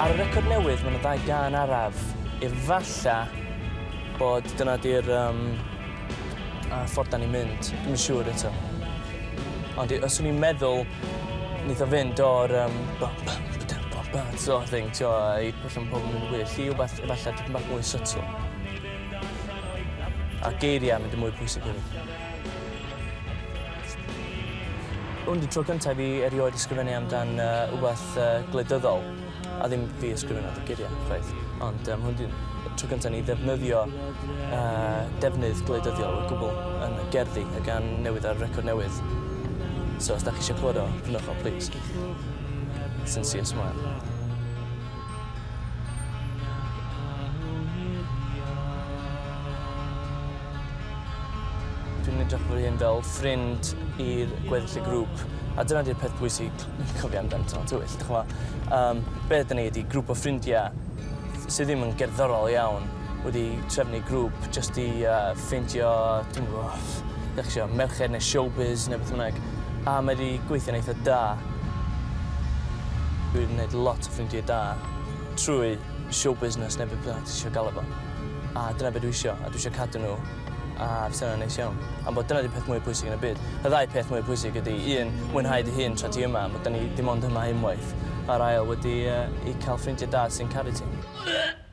Ar y record newydd mae 'na ddau gân araf. Efalla bod dyna 'di'r yym yy ffordd 'dan ni'n mynd. Dwi'm yn siŵr eto. Ond i- os o'n i'n meddwl neith o fynd o'r yym bum bum ba-dum bum ba sort of thing t'wo' i Felly mae pobl yn mynd yn gwyllt i wbath efallai tipyn bach mwy subtle. A geiriau yn mynd yn mwy pwysig hefyd. Hwn di tro cyntaf i fi erioed ysgrifennu amdan uh, wbath uh, gwleidyddol, a ddim fi ysgrifennu y geiriau, chwaith. Ond um, hwn di tro cyntaf ni ddefnyddio uh, defnydd gwleidyddiol o gwbl yn y gerddi a gan newid ar record newydd. So os da chi eisiau clywed o, prynwch o, please. Sincere smile. Nac awn i'r iâ. Dwi'n edrych fy hun fel ffrind i'r gweddill y grŵp a dyna 'di'r peth pwysig i cofio amdan Tân Tywyll, dych ch'mo'? Yym be' ydan ni ydi grŵp o ffrindia sy ddim yn gerddorol iawn. wedi trefnu grŵp jyst i yy ffeindio dwi'm yn gwbo dach ch'mo' merched ne' showbiz ne' beth bynnag a mae 'di gweithio'n eitha da. Dwi 'di neud lot o ffrindie da trwy show business ne' be' bynnag ti isio galw fo a dyna be' dwi isio a dwi isio cadw n'w a fysa wnna'n neis iawn. Am bod dyna 'di peth mwya pwysig yn y byd. Y ddau peth mwya pwysig ydi un mwynhau dy hun tra ti yma ma' 'dan ni dim ond yma unwaith a'r ail wedi yy i ca'l ffrindie da sy'n caru ti.